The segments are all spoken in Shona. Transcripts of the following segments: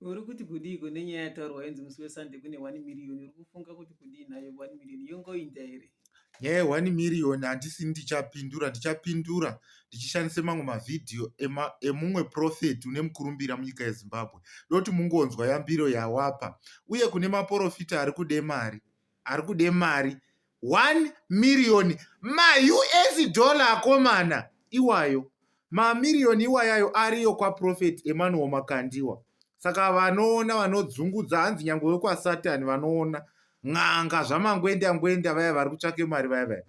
Uri kuti kudiiko nenyaya yataurwa yonzi musi weSunday kune 1 million uri kufunga kuti kudii nayo 1 million yongoinda here? Nyaya ye 1 million handisi ndichapindura ndichapindura ndichishandisa mamwe mavhidhiyo ema- emumwe profeti une mukurumbira munyika yeZimbabwe ndoti mungonzwa yambiro yawapa uye kune maporofita ari kude mari ari kude mari 1 miriyoni maus dollar akomana iwayo mamiriyoni iwayayo ariyo kwaprofeti emanuel makandiwa saka vanoona vanodzungudza hanzi nyange wekwasatani vanoona n'anga zvamangwenda ngwenda vaya vari kutsvake mari vaya vaya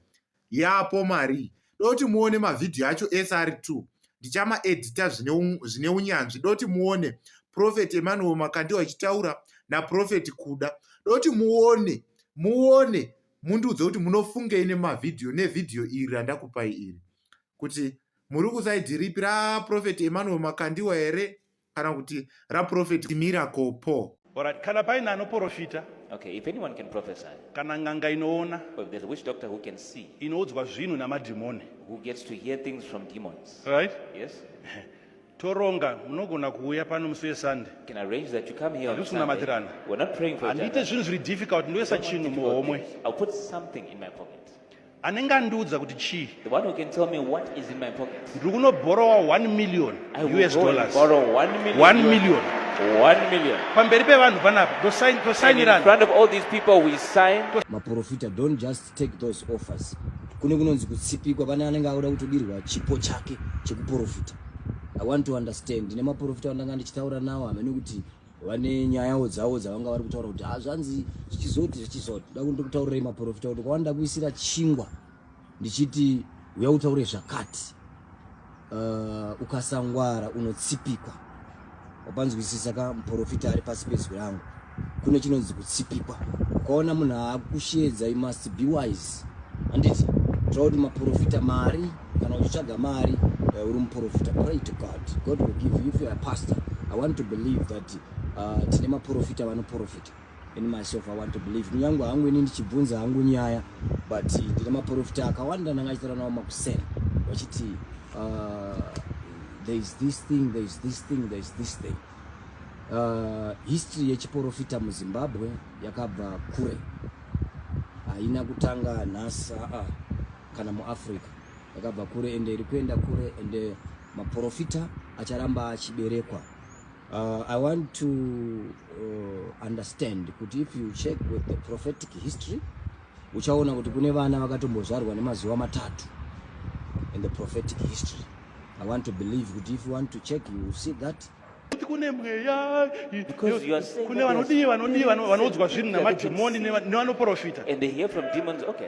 yapo marii doti muone mavhidhiyo acho ese ari two ndichamaedita zvine unyanzvi doti muone profeti emanuel makandi wachitaura naprofeti kuda doti muone muone mundiudze kuti munofungei nemavhidhiyo nevhidhiyo iri randakupai iri kuti muri kusaidhi ripi raprofeti emanuel makandiwa here kana kuti raprofeti miracle paul Alright, kana paine anoporofita Okay, if anyone can prophesy, kana n'anga inoona or if there's a witch doctor who can see, inoudzwa zvinhu namadhimoni who gets to hear things from demons, right yes, toronga munogona kuuya pano musi wesande you can arrange that you come here on Handisi Sunday. kunamatirana. We're not praying for each handiite other. zvinhu zviri difficult ndoisa Don't want chinhu difficult muhomwe things. I'll put something in my pocket. anenge andiudza kuti chii The one who can tell me what is in my pocket. ndiri kunobhorowa 1 million I will us go and dollars borrow one million. 1 US million One million. pamberi pevanhu panapa And in ndosainirana front of all these people, we sign. maprofita don't just take those offers kune kunonzi kutsipikwa pane anenge akuda kutodirwa chipo chake chekuprofita i want to understand ndine maprofita andanga ndichitaura nawo hamene kuti vane nyayawo dzavo dzavanga vari kutaura kuti hazvanzi ah, zvichizoti zvichizoti da kuti ndikutaurirai maprofita kuti kwavani ndakuisira chingwa ndichiti uya utaure zvakati uh, ukasangwara unotsipikwa wapanzwisisa ka muprofita ari pasi pezwi rangu kune chinonzi kutsipikwa ukaona munhu aakushedza you must be wise handiti tira kuti maprofita mari kana uchitsvaga mari uh, uri muprofita pray to god god will give you if you're a pastor i want to believe that uh, tine maprofita vanoprofita in myself i want to believe kunyange hangu ini ndichibvunza hangu nyaya but ndine maprofita akawanda ndanga achitaura nawo makuseni vachiti uh, there is this thing there is this thing there is this thing uh, history yechiprofita muzimbabwe yakabva kure haina kutanga nhasi aa uh -uh. kana muafrica yakabva kure ende iri kuenda kure ende maprofita acharamba achiberekwa uh, i want to uh, understand kuti if you check with the prophetic history uchaona kuti kune vana vakatombozvarwa nemazuva matatu in the prophetic history i want to believe kuti if you want to check you see that kune mweya kune vanodii vanodii vanoudzwa zvinhu namadhimoni nevanoprofita and they hear from demons okay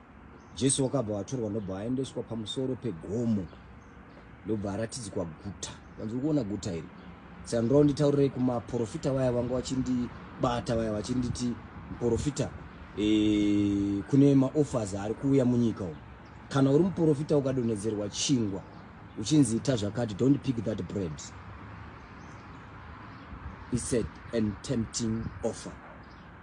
Jesu wakabva watorwa ndobva aendeswa pamusoro pegomo ndobva aratidzikwa guta vanzi ukuona guta iri saka ndoo nditaurirei kumaprofita vaya vanga vachindibata vaya vachinditi muprofita e, kune maoffers ari kuuya munyika umu kana uri muprofita ukadonhedzerwa chingwa uchinzi ita zvakati don't pick that bread he said and tempting offer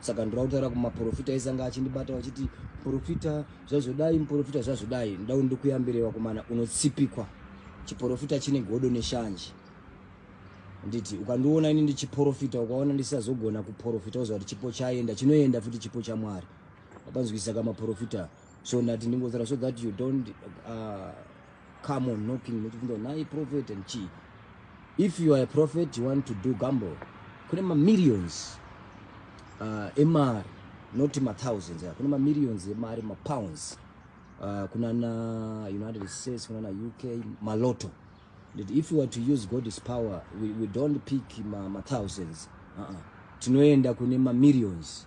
saka ndoda kutaura kumaprofita aise anga achindibata vachiti muprofita zvazvodai muprofita zvazvodai ndoda kuti ndikuyambire vakomana unotsipikwa chiprofita chine godo neshanje nditi ukandiona ini ndichiprofita ukaona ndisazogona kuprofita oziva kuti chipo chaenda chinoenda futi chipo chamwari akanzwisisa kamaprofita so ndati ndingotaura so that you don't uh, come on knocking nechibvunza nhai prophet and chii if you are a prophet you want to do gamble kune mamillions uh, emari not mathousands yeah. kune mamillions emari mapounds uh, kunana united states kunana uk maloto that if you were to use god's power we, we don't pick mathousands ma uh -uh. tinoenda kune mamillions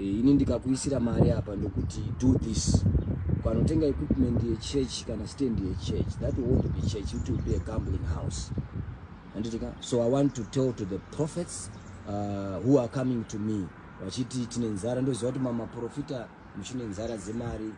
Eh, ini ndikakuisira mari apa ndokuti do this ukanotenga equipment yechurch kana stand yechurch that won't be church it will be a gambling house anditika so i want to tell to the prophets uh, who are coming to me vachiti tine nzara ndoziva kuti mamaprofita muchine nzara dzemari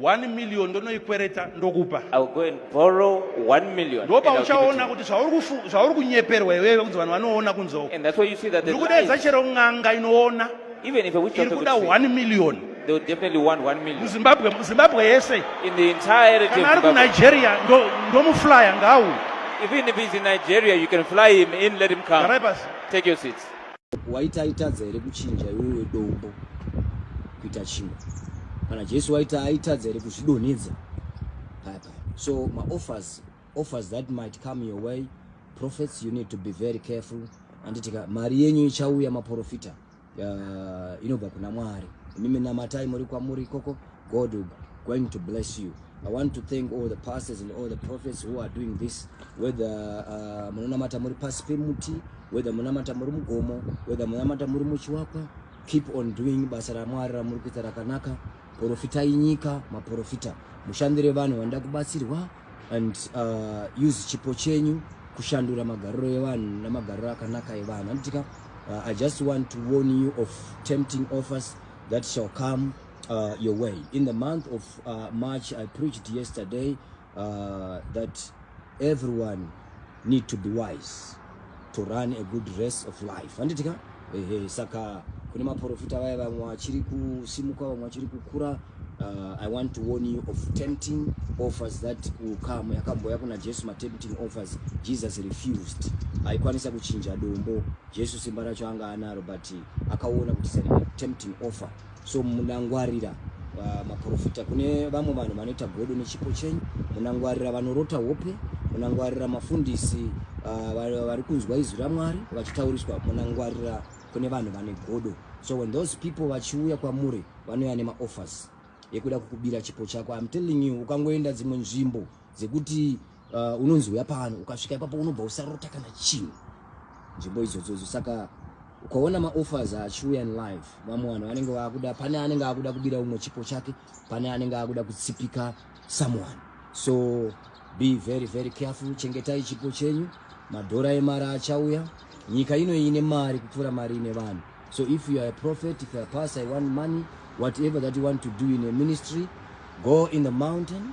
1 million ndonoikwereta ndokupa ndopauchaona kuti zvauri kunyeperwa iwewe kunzi vanhu vanoona kunzoo ndiri kudaidza chero n'anga inoona iri kuda 1 million They will definitely want one million. Zimbabwe, Zimbabwe yese. In the entirety of Zimbabwe. Kana Nigeria ndo ndomuflyer ngawu. Even if he's in Nigeria, you can fly him in, let him come. Take your seats. waiti aitadza here kuchinja iwewe dombo kuita chingwa kana jesu waita aitadza here kuzvidonhedza paya paya so maoffers offers that might come your way prophets you need to be very careful anditika mari yenyu ichauya maprofita uh, inobva kuna mwari imimi namatai muri kwamuri ikoko God will going to bless you. I want to thank all the pastors and all the prophets who are doing this, whether uh, munonamata muri pasi pemuti, whether munamata muri mugomo, whether munamata muri muchiwakwa, keep on doing basa raMwari ramuri kuita rakanaka. Porofitai nyika, maporofita. Mushandire vanhu vanoda kubatsirwa and uh, use chipo chenyu kushandura magariro evanhu namagariro akanaka evanhu. Handitika, uh, I just want to warn you of tempting offers that shall come uh, your way. In the month of uh, March, I preached yesterday uh, that everyone need to be wise to run a good race of life. Anditika? Ehe, saka kune maprofita vaya vamwe vachiri kusimuka vamwe vachiri kukura uh, i want to warn you of tempting offers that will come yakambouya kuna jesu matempting offers jesus refused aikwanisa kuchinja dombo jesu simba racho anga anaro but akaona kuti tempting offer So munangwarira maporofita kune vamwe vanhu vanoita godo nechipo chenyu, munangwarira vanorota hope, munangwarira mafundisi uh, vari kunzwa izwi ramwari vachitauriswa, munangwarira kune vanhu vane godo. So when those people vachiuya kwamuri vanouya nemaoffers yekuda kukubira chipo chako. I'm telling you, ukangoenda dzimwe nzvimbo dzekuti uh, unonzi uya pano ukasvika ipapo unobva usarota kana chinhu nzvimbo idzodzodzo saka ukaona maoffers achiuya live vamwe vanhu vanenge vakuda pane anenge akuda kubira umwe chipo chake pane anenge akuda kutsipika someone so be very very careful chengetai chipo chenyu madhora emari achauya nyika ino ine mari kupfuura mari ine vanhu so if you are a prophet if you are pastor you want money whatever that you want to do in a ministry go in the mountain